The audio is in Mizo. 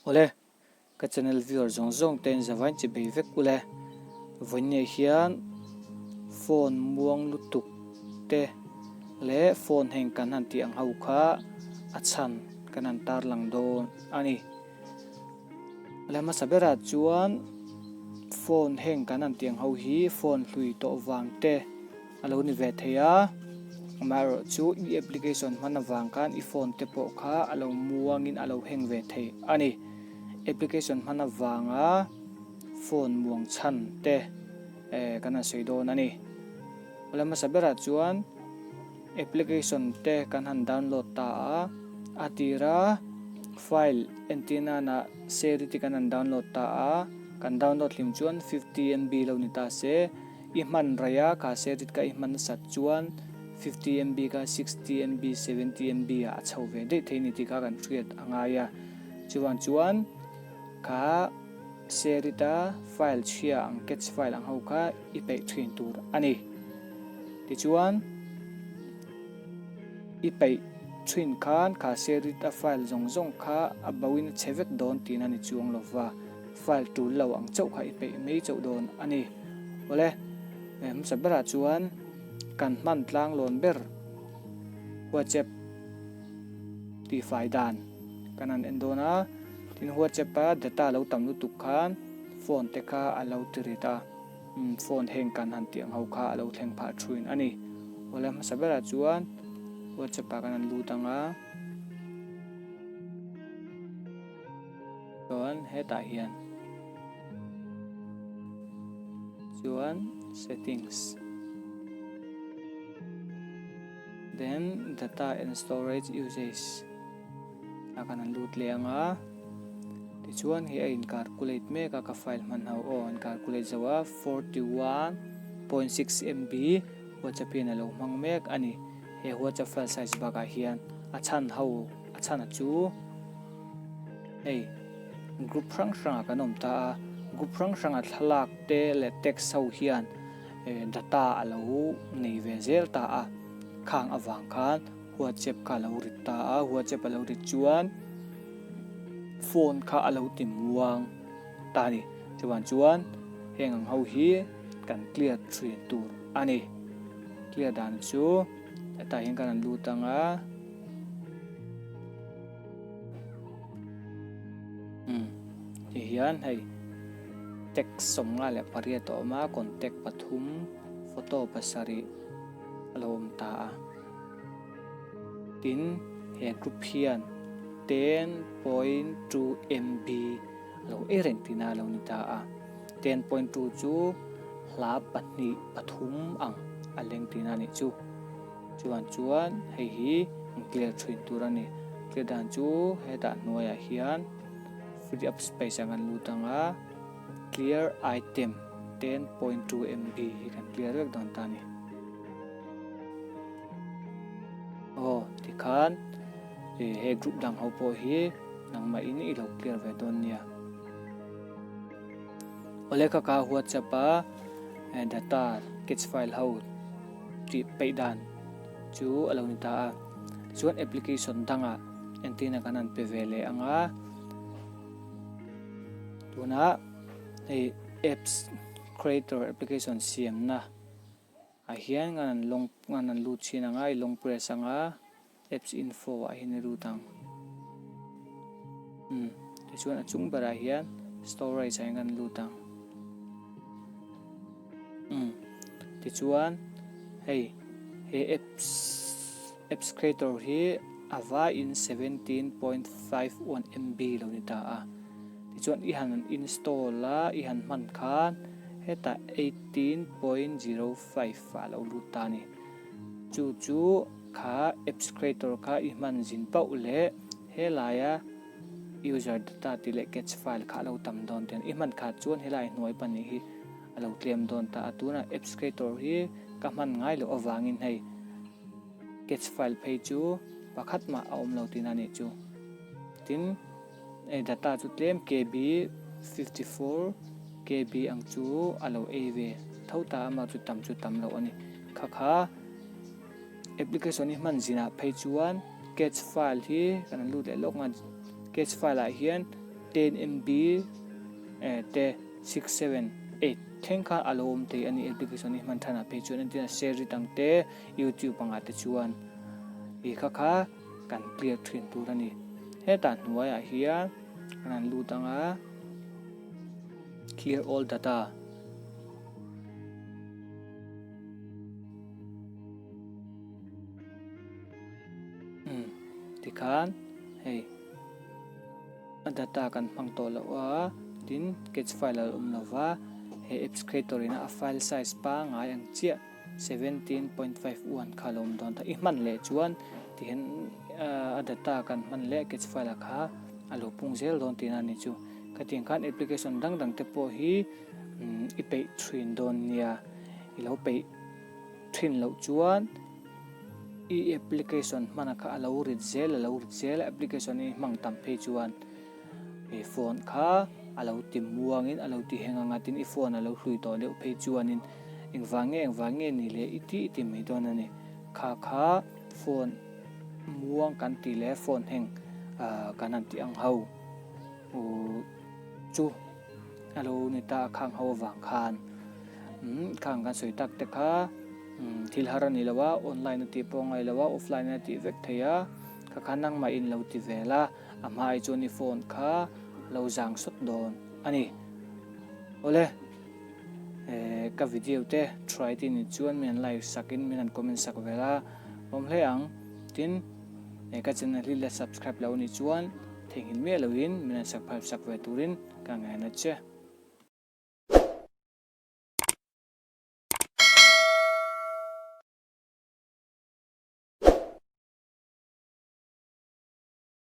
Awle, ka channel viewer zawng zawng ten zavain chi bei vek ule. Vawiin nei hian phone muang lutuk te leh phone heng kan han tih ang ho kha a chhan kan han tar lang dawn a ni. Awle hmasa bera chuan phone heng kan han tih ang ho hi phone hlui tawh vang te, A lo ni ve thei a, amaherawh chu i application hman avang khan i phone te pawh kha a lo muangin a lo hang ve thei a ni. Application hman avanga phone muang chhan te kan han sawi dawn a ni. Awle hmasa berah chuan application te kan han download ta a, a tira file entir nanah serity kan han download ta a, kan download hlim chuan fifty MB lo ni ta se, I hman raih a, ka set it ka i hman nasat chuan fifty MB kha sixty MB, seventy MB ah a chho ve daih thei ni tih kha kan hriat a ngai a. Chuvang chuan ka set it a, file chhia ang catch file ang ho kha i peih thin tur a ni. Tichuan i peih thin khan ka set it a file zawng zawng kha a bauhin a che vek dawn tihna ni chuang lova. File tul lo ang chauh kha i peih mai chauh dawn a ni. Awle, hmasa berah chuan kan hman tlang lawn ber Whatsapp tihfai dan kan han en dawn a, tin Whatsapp a data lo tam lutuk khan phone te kha a lo ti rit a, phone heng kan han tih ang ho kha a lo thleng phah thuin a ni. Awle, hmasa berah chuan Whatsapp a kan han lut ang a. Chuan hetah hian chuan settings then data and storage usage a kan han lut leh anga tichuan hei a in calculate mek a ka file hman ho aw an calculate zo a forty one point six MB huatsa pian a lo hmang mek a ni he huatsa file size bakah hian a chhan ho. A chhana chu hei group hrang hrangah kan awm ta a, group hrang hranga thlalak te leh text ho hian data a lo nei ve zel ta a. Khang avang khan whatsapp kha a lo rit ta a, whatsapp a lo rit chuan phone kha a lo ti muang ta a ni. Chuvan chuan heng ang ho hi kan clear thin tur a ni. Clear dan chu hetah hian kan rawn lut ang a. Hmm. Ti hian hei text sawm nga leh pariat a awm a, contact pathum, photo pasarih a lo awm ta a. Tin, he group hian ten point two MB a lo ei reng tihna a lo ni ta a. Ten point two chu hla pahnih pathum ang a leng tihna a nih chu. Chuan chuan hei hi ntliar thin tur a ni. Tleh dan chu hetah hnuaiah hian free up space ang kan lut ang a, clear item ten point two MB hi kan clear vek dawn ta a ni. Aw tikhan ih he group dang ho pawh hi nangmah in i lo clear ve dawn nia. Awle ka ka whatsapp a data catch file ho. tih peih dan chu a lo ni ta a, chuan application danga entirna kan han pe ve leh ang a, tuna hei apps creator application siamna ah hian ngan an long ngan an lut chhin ang a i long press ang a. Apps info ah hian i lut ang. Umm, tichuan a chung berah hian storage ah hian kan lut ang. Umm, tichuan hei, he apps, apps creator hi a vaiin seventeen point five one MB lo ni ta a. Tichuan i han install a, i han hman khan hetah eighteen point zero five a lo lut ta a ni. Chu chu kha apps creator kha i hman zin pauh leh helaia user data tih leh cache file kha a lo tam dawn teh a ni. I hman khat chuan helai hnuai pahnih hi a lo tlem dawn ta a, tunah apps creator hi ka hman ngai loh avangin hei cache file phei chu pakhat mah a awm lo tihna a nih chu. Tin. Hei data chu tlem KB fifty four KB ang chu a lo ei ve tho ta a, mah chu tam chu tam loh a ni. Kha kha application hi hman zin ah phei chuan cache file hi kan rawn lut leh lawk nghal, cache file ah hian ten MB te six seven eight thleng kha a lo awm thei a ni application hi hman than ah phei chuan entirena Share it ang te YouTube ang ah te chuan. Ih kha kha. kan clear thin tur a ni. Hetah hnuaiah hian a rawn lut ang a, clear all data. Hmm, tikhan hei a data kan hmang tawh loh a, tin catch file a lo awm lova, he apps creator in a file size pangngai ang chiah. Seventeen point five one kha lawm dawn ta i hman leh chuan tihin a data kan hman leh catch file ah kha a lo pung zel dawn tihna a nih chu. Khatiang khan application dang dang te pawh hi i peih thin dawn nia, i lo peih thin loh chuan i application hmana kha a lo rit zel a lo rit zel a, application i hmang tam phei chuan. He phone kha a lo ti muang in a lo ti heng a ngat in i phone a lo hlui tawh deuh phei chuan in engvah nge engvah nge ni leh i ti i ti mai dawn a ni. Kha kha phone muang kan ti leh phone heng kan han ti ang ho u chu a lo ni ta a khang ho avang khan umm khang kan sawi tak te kha thil har a ni lo a online a tih pawh a ngailo a offline a tih vek thei a kha kha nangmah in lo ti vel a. a hmaah chuan i phone kha lo zang sawt dawn a ni. Awle eh ka video te try ti ni chuan min han like sak in min han comment sak ve la awm hle ang tin eh ka channel hi la subscribe lo ni chuan theihnghilh miah lo in min han subscribe sak ve tur in ka ngaih nat che.